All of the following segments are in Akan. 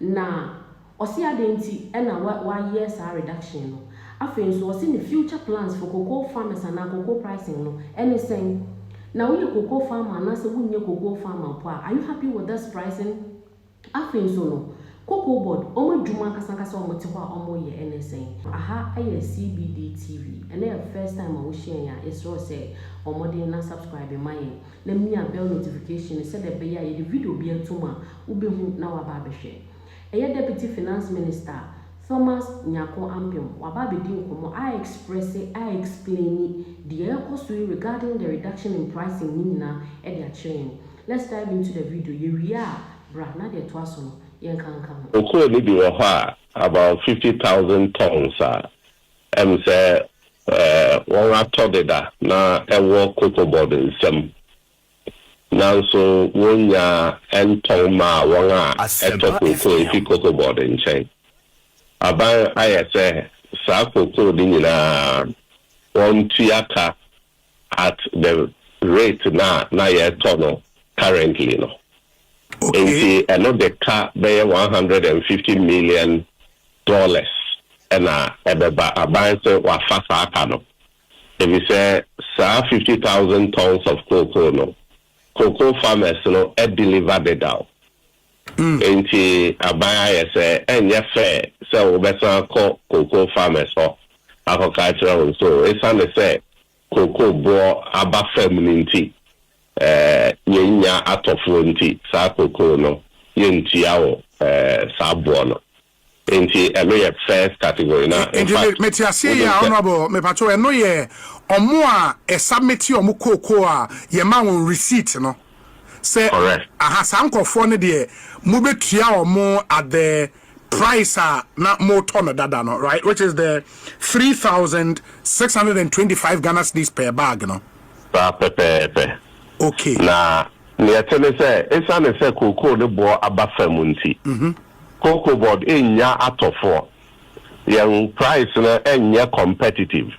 Na ɔse adɛn nti na wayɛ saa reduction no. Afei nso ɔse ne future plans for cocoa farmers anaa cocoa pricing no ɛne sɛn. Na woyɛ cocoa farmer anaasɛ wonyɛ cocoa farmer mpo a, are you happy with this pricing? Afei nso no Cocoa board wɔn adwuma ankasa ankasa a wɔte hɔ a wɔyɛ ɛne sɛn. Aha yɛ CBD TV, ɛnɛ yɛ first time a wohyia yɛn a, yɛsrɛ wo sɛ bɔ mmɔden na subscribe ma yɛn. na mia bell notification no sɛdeɛ ɛbɛyɛ a yɛde video biara to mu a, wobɛhu na woaba abɛhwɛ. Ɛyɛ Deputy Finance Minister Thomas Nyarko Ampem, waba abɛdi nkɔmmɔ a expresse, a explaini deɛ ɛrekɔ so yi regarding the reduction in pricing no nyinaa de akyerɛ yɛn. Let's dive into the video, yɛwie a bra na deɛ ɛtoa so no yɛnka nka ho. Cocoa no bi wɔ hɔ a about fifty thousand tonnes a Ɛwom sɛ wɔatɔ deda na ɛwɔ Kokobod nsam, nanso wonnya ntɔn mmaa wɔn a ɛtɔ kooko mfi Kokobod nkyɛn. Aban ayɛ sɛ saa kooko no nyinaa wɔntua ka at the rate no a na yɛtɔ no currently no. Enti Okay. ɛno de ka bɛyɛ one hundred and fifty million dollars na ɛbɛba. Aban se wafa saa ka no efisɛ saa fifty thousand tons of cocoa no, cocoa farmers no adeliver dedaw. Enti aban ayɛ sɛ ɛnyɛ fair sɛ wobɛsan akɔ cocoa farmers hɔ akɔka akyerɛ wɔn sɛ oh, esiane sɛ cocoa boɔ aba fam no nti, yɛnnya atɔfoɔ nti, saa cocoa no, yɛntua wo saa boɔ no. Nti ɛno yɛ first category na in Nti fact mete aseɛ yi wonim a sɛ. honourable mepakyɛw ɛno yɛ ɔmo a yɛ submit ɔmo kookoo a yɛ ma wɔn receipt no sɛ Correct. aha saa nkorɔfoɔ no deɛ mo bɛ tua ɔmo at the price a na mo tɔ no dada no right which is the three thousand six hundred and twenty five Ghana cedis per bag no. Saa pɛpɛɛpɛ. Okay. Na neɛ ɛte ne sɛ, ɛsiane sɛ kookoo no boɔ aba fam nti, Mhm. Kokobod nnya atɔfoɔ. Yɛn price no nyɛ competitive.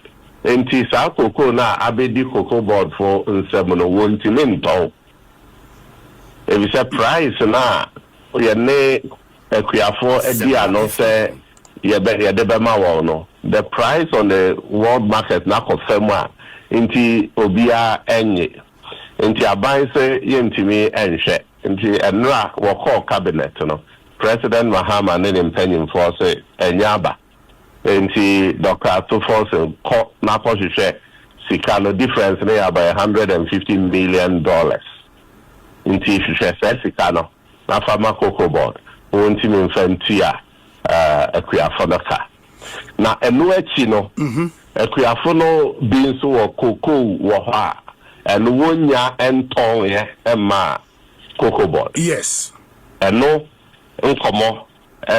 Nti saa cocoa no a abɛdi kokobodfo nsam no wɔntumi ntɔn. Efisɛ price no a yɛne akuafoɔ adi ano sɛ yɛde bɛma wɔn no, the price on the world market no akɔ fam a nti obiara nnye. Nti aban se yɛntumi nhwɛ. Nti mmerɛ a wɔkɔɔ cabinet no, President Mahama ne ne mpanyimfoɔ se ɛnyɛ aba. Nti Doctor Atufo se kɔ na kɔ hwehwɛ sika no, difference no yɛ abɛyɛ one hundred and fifty million dollars. Nti hwehwɛ saa sika no na fa ma Cocoa Board, wɔntumi mfa ntua akuafo no ka. Na ɛno akyi no, akuafo no bi nso wɔ cocoa wɔ hɔ a, ɛno wonnya ntɔnɛ mma Cocoa Board. Yes. Ɛno nkɔmmɔ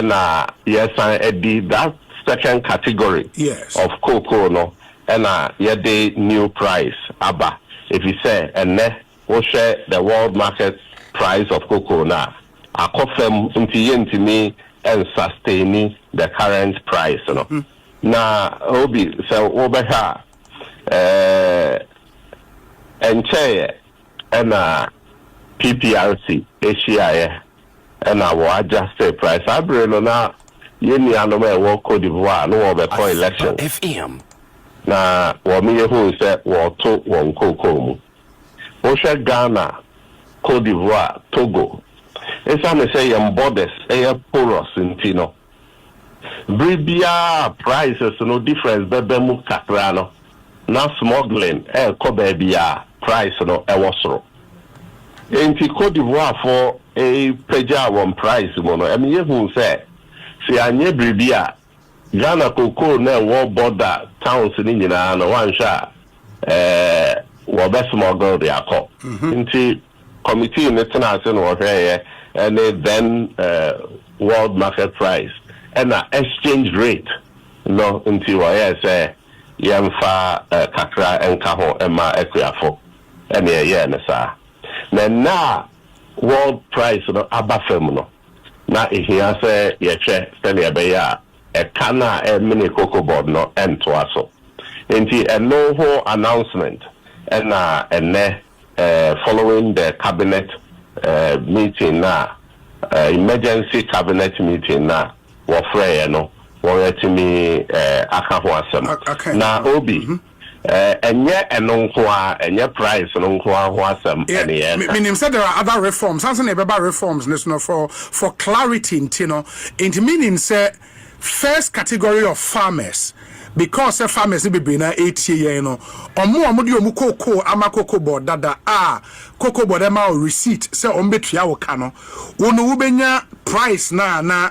na yɛsan di. That second category Yes. of cocoa no na yɛde new price aba, efisɛ ɛnnɛ Wohwɛ the world market price of cocoa no a, akɔ fam nti yɛntumi nsustaini the current price no. Na Obi, sɛ wobɛhwɛ a, ɛnkyɛeɛ na PPRC hyiaeɛ na wɔ adjuste price. Saa bere no na yɛn nuanom a ɛwɔ Cote d'Ivoire no wɔrebɛkɔ elections na wɔyɛ huu sɛ wɔreto wɔn cocoa mu. Wohwɛ Ghana, Cote d'Ivoire, Togo, esiane sɛ yɛn borders yɛ porous nti no, bere biara a prices no difference bɛba mu kakra no, na smuggling rekɔ baabi a price no wɔ soro. Enti Cote d'Ivoirefo pagyaa wɔn price mu no, ɛma yehuu sɛ, sɛ yɛanyɛ biribi a, Ghana kookoo no a ɛwɔ border towns no nyinaa no, woanhwɛ a, ɛɛ, wɔbɛ smuggle de akɔ. Nti committee no tenaa ase na wɔhwɛeɛ, ɛne then ɛɛ world market price, ɛna exchange rate no, nti wɔyɛɛ sɛ yɛmfa ɛɛ kakra nka ho mma akuafo, ɛne ɛyɛɛ no saa. Na nnɛ a world price no aba fam no, Ná ehia sɛ yɛhwɛ sɛnea ɛbɛyɛ a ɛka no a ɛremene koko board no ntoa so. Enti ɛno ho announcement na ɛnnɛ following the cabinet meeting no a, emergency cabinet meeting no a wɔfrɛeɛ no, wɔatumi aka ho asɛm. Na Obi. Ɛnyɛ ɛno nko ara, ɛnyɛ price no nko ara ho asɛm na yɛreka. Menim sɛ there are other reforms, ansa na yɛbɛba reforms no so no, for for clarity nti no, nti meaning sɛ first category of farmers, because sɛ farmers no bebree no ara retie yɛn no, wɔn a wɔde wɔn cocoa ama Cocoa Board dada a Cocoa Board ma wo receipt sɛ wɔbɛtua wo ka no, wo no wobɛnya price no a na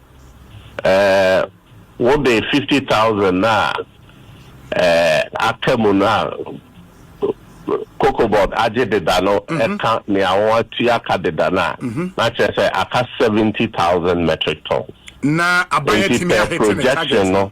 Wo de fifty thousand no a aka mu no a Cocobot agye deda no ka nea wɔatua ka deda no a, na kyerɛ sɛ aka seventy thousand metric tons. Na aban atumi ahete ne target no.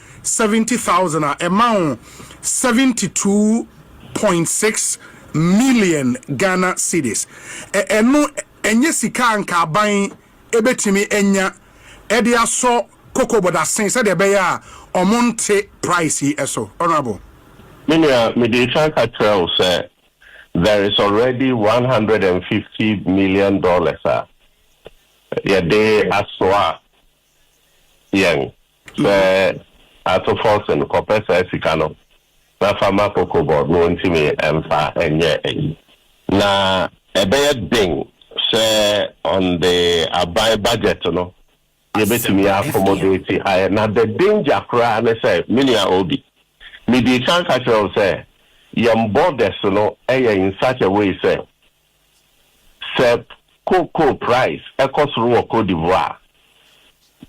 seventy thousand a ɛma wo seventy two point six million Ghana cedis. Ɛ ɛno ɛnyɛ sika a anka aban ɛbɛtumi anya ɛde asɔ koko bɔdasen sɛdeɛ ɛbɛyɛ a ɔmo nte price yi ɛso. Honourable. Me nua, mede ɛkan ka kyerɛɛ wo sɛ there is already one hundred and fifty million dollars a yɛde asoa yɛn sɛ ato forcing kɔpɛ saa sika no na fa ma kokobɔ na ɔntumi mfa nyɛ ayi. Na ɛbɛyɛ den sɛ on the aban budget no yɛbɛtumi yɛ accommodate ayɛ. Na the danger koraa ne sɛ, me nua Obi, medii kan ka kyerɛɛ wo sɛ yɛn borders no yɛ in such a way sɛ Sɛ cocoa price kɔ soro wɔ Côte d'Ivoire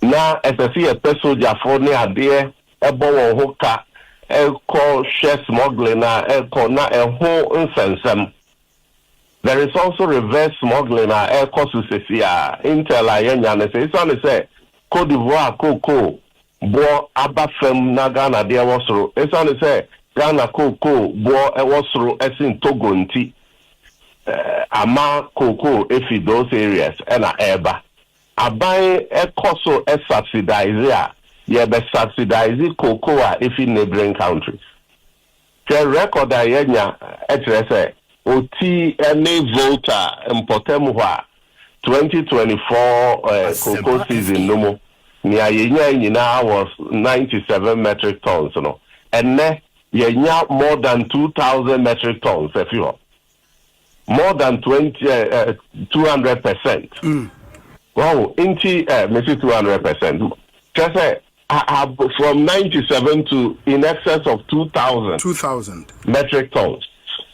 a, na ɛsɛ sɛ yɛpɛ sogyafo ne adeɛ bɔ wɔn ho ka kɔ hwɛ smuggling a ɛrekɔ na ɛho nsɛnsɛm. There is also reverse smuggling a ɛrekɔ so sesiaa. Intel a yɛanya no sɛ esiane sɛ Côte d'Ivoire cocoa boɔ aba fam na Ghana deɛ wɔ soro. Esiane sɛ Ghana kookoo boɔ wɔ soro sen Togo nti, ama kookoo fi those areas na ɛreba. Aban kɔ so subsidize a, yɛbɛ subsidize kookoo a efi neighbouring countries. Sɛ rekɔd a yɛanya kyerɛ sɛ oti ne Volta mpɔtam hɔ a, twenty twenty four cocoa season no mu, nea yenyae nyinaa was ninety seven metric tons no, ɛnnɛ yɛanya more than two thousand metric tons afi hɔ. more than twenty eh, eh, two hundred percent mm. wow nti eh, mesi two hundred percent kyɛ sɛ from ninety seven to in excess of two thousand two thousand metric tons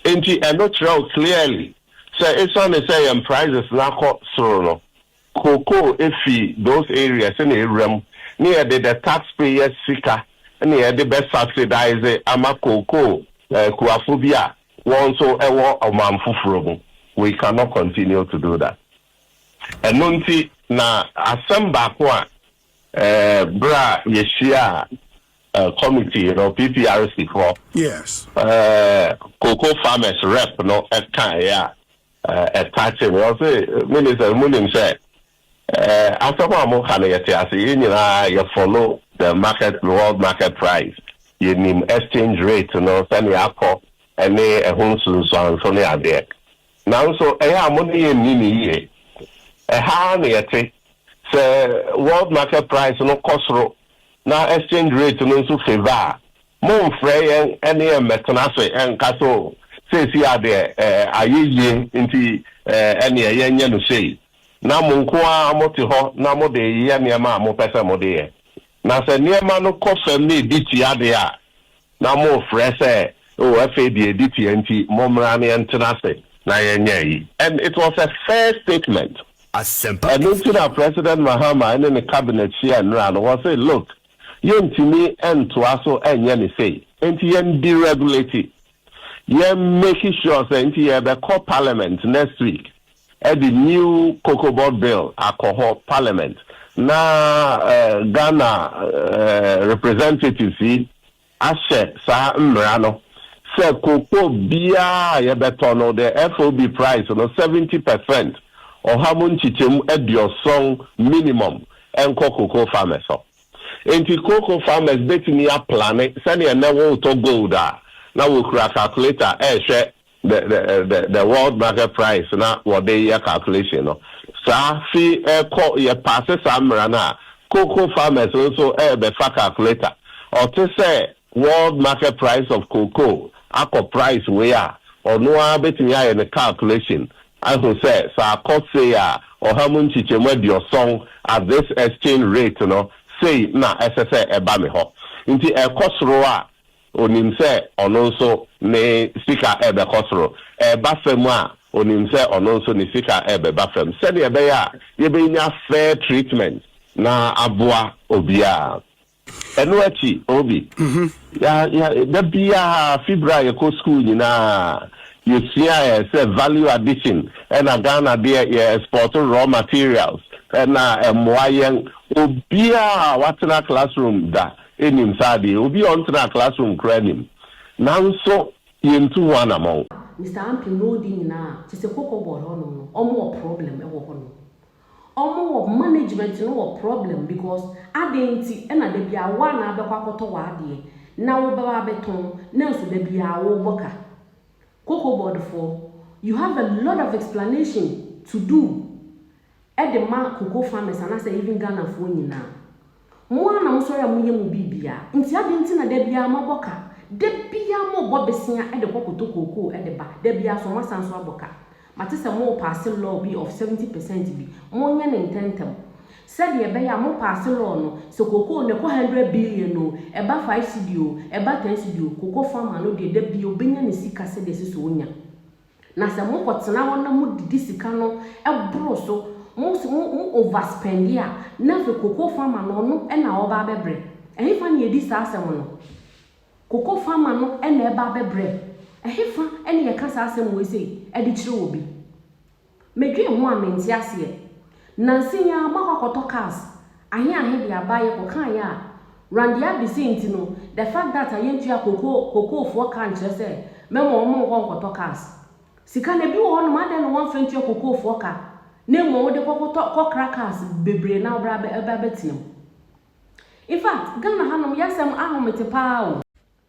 nti ɛno kyerɛw clearly sɛ esiane sɛ yɛn prices n'akɔ soro no Cocoa efi those areas na ewura mu ne yɛde the tax payers sika na yɛde bɛ subsidise ama cocoa kuafo bi a wɔn nso wɔ ɔman foforɔ mu, we cannot continue to do that. Ɛno nti na asɛm baako a berɛ a yɛhyiaa committee no, PPRC foɔ cocoa farmers rep no kaeɛ a, Ɛtaakye me. Ɔse, Ministers, monim sɛ asɛm a moka no yɛte ase. Yɛn nyinaa yɛ follow the market, the world market price. Yɛnim exchange rate no, sɛnea akɔ ne ɛho nsunsuanso ne adeɛ. Nanso ɛyɛ a mo ne yɛn nni no yie. Ɛha ara na yɛte. Sɛ world market price no kɔ soro na exchange rate no nso favour a, Mommfrɛ yɛn ne yɛn mmɛtena ase nka sɛ, 'O, seesei ara deɛ, ayɛ yie, enti ɛnneɛ yɛnyɛ no sei. Na mo nko ara mote hɔ na mode reyɛ nneɛma a mopɛ sɛ mode yɛ. Na sɛ nneɛma no kɔ fam na ɛdi tia deɛ a, na morefrɛ sɛ, 'O, afei deɛ ɛdi tia enti mommra na yɛntena ase na yɛnyɛ ayi. And it was a fair statement. Asɛmpa Ɛno FM. nti na President Mahama ne ne Cabinet hyia nnora no, wɔse, Look, yɛntumi ntoa so nyɛ no sei nti yɛn deregulate yɛn make sure sɛ nti yɛbɛkɔ parliament next week ɛde new kokobɔ bill akɔ hɔ parliament na Ghana representatives yi ahyɛ saa mmara no sɛ koko biara a yɛbɛtɔ no, the FOB price no, seventy per cent, ɔha mu nkyekyɛmu aduɔsɔn minimum, nkɔ cocoa farmers hɔ. Enti cocoa farmers bɛtumi aplane sɛdeɛ nnɛ woretɔ gold a na wɔkura calculator rehwɛ The the the the world market price na wɔde yɛ calculation no saa fi ɛkɔ yɛ paase saa mmara no a cocoa farmers no nso ɛbɛ fa calculator ɔte sɛ world market price of cocoa akɔ price wei a ɔno ara betumi ayɛ ne calculation ahu sɛ sɛ akɔ sei a ɔha mu nkyekyɛmu aduɔsɔn at this exchange rate no sei na ɛsɛ sɛ ɛba me hɔ nti ɛkɔ soro a Onim sɛ ɔno nso ne sika rebɛkɔ soro. Ɛreba fam a, onim sɛ ɔno nso ne sika rebɛba fam, sɛnea ɛbɛyɛ a yebenya fair treatment na aboa obiara. Ɛno akyi, Obi, yɛ, yɛ, da biara, fi bere a yɛkɔ sukuu nyinaa, yesuae sɛ value addition na Ghana deɛ yɛ export raw materials na ɛmmoa yɛn. Obiara a watena classroom da Nnim saa deɛ. Obi a ɔntenaa classroom koraa nnim. Nanso yɛntu ho anamɔn. Mister Ampim na ɔdi nyinaa a, kyesɛ koko board hɔ nom no ɔmo wɔ problem ɛwɔ hɔ nom. Ɔmo wɔ management no wɔ problem because aden nti ɛna da biaa woa na abɛkɔ akɔtɔ w'adeɛ na wo bɛba abɛtɔn nanso da biaa wo bɔ ka. Koko board foɔ you have a lot of explanation to do de ma Cocoa farmers anaasɛ even Ghanafoɔ nyinaa. Mo ara na mosɔre a moyɛ mo biribiara, nti adɛn nti na da biara moabɔ ka? Da biara mobɔ besea de kɔ kɔtɔ kookoo de ba, da biara so moasan nso abɔ ka. Mate sɛ morepaase law bi of seventy percent bi, monyɛ no ntɛntɛm. Sɛdeɛ ɛbɛyɛ a mopaase law no, sɛ kookoo no ɛkɔ hundred billion oo, ɛba five cedi oo, ɛba ten cedi oo, cocoa farmer no deɛ da biara ɔbɛnya ne sika sɛdeɛ ɛsɛ sɛ ɔnya. Na sɛ mo kɔtena hɔ na mo didi sika no boro so, mo over spend a, na afei cocoa farmer no ɔno na ɔba abɛbrɛ. Ɛhefa na yɛdi saa asɛm no? Cocoa farmer no na ɛba abɛbrɛ. Ɛhefa na yɛka saa asɛm wei sei de kyerɛ obi? Medwen ho a mente aseɛ. Nansa yi ara makɔ akɔtɔ cars ahe ahe de aba yɛ kɔ kaa yɛ a Randy Abese nti no the fact that a yɛntua koko koko foɔ ka nkyerɛ sɛ mɛma wɔn nkɔ nkɔtɔ cars sika no ebi wɔ hɔ nom adɛn na wɔnfa ntua koko foɔ ka na mmom wode kɔ kɔtɔ kɔ kra cars bebree na wobra bɛ ɛbɛ abɛtena mu in fact Ghana ha nom yɛ asɛm ahomete paa o.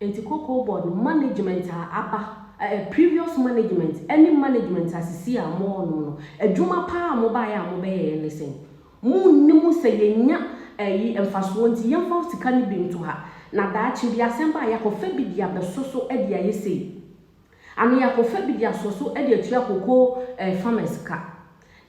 Enti Cocoa Board no management a aba, ɛ ɛ previous management ne management a sesei a mo wɔ nom no, adwuma pa ara a mo baeɛ a mo bɛyɛeɛ ne sɛn? Mo nnim sɛ yɛnnya ɛ yi mfasoɔ nti yɛmfa sika no bi nto ha, na daakye bi asɛm ba a yɛakɔ fa bi de abɛso so de ayɛ sei? Ano yɛ akɔfa bi de asɔ so de atua cocoa eh farmers ka.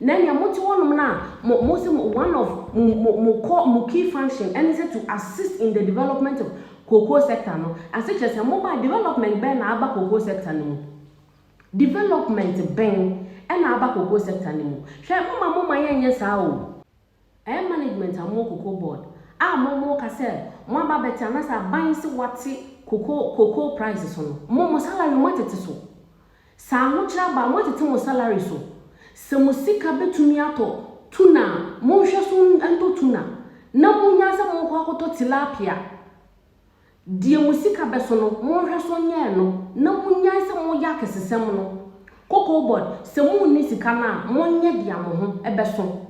Nɛ nea mo te hɔ nom no a mo mo se one of mo mo mo core mo key function ɛne sɛ to assist in the development of cocoa sector no ase kyerɛ sɛ mo ba development bɛn na aba cocoa sector no mu? Development bɛn ɛna aba cocoa sector no mu? Hwɛ mo ma mo ma yɛnyɛ saa o. Ɛyɛ management a ɔmo cocoa board a mo mo ka sɛ mo aba abɛte anaasɛ aban se wate cocoa cocoa price so no mo mo salary mo atete so sɛ ahokyere aba a mo atete mo salary so sɛ mo sika betumi atɔ tuna a mo nhwɛ so ntɔ tuna na mo nya sɛ mo kɔ akɔtɔ tilapia. Deɛ mo sika bɛso no, monhwɛ so nyɛ ɛno, na monyae sɛ moyɛ akɛsesɛm no. Kokobod, sɛ monni sika no a, monyɛ deɛ mo ho bɛso.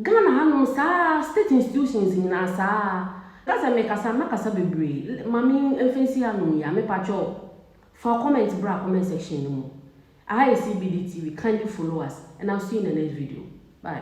Ghana hanom saa ara, state institutions nyinaa saa ara. Ka sɛ mekasa a mɛkasa bebree, ma me mfa nsi hanom yi ara, mepakyɛw, fa comment bra comment section no mu. Aha yɛ CBD TV, kindly follow us and I'll see you in the next video. Bye.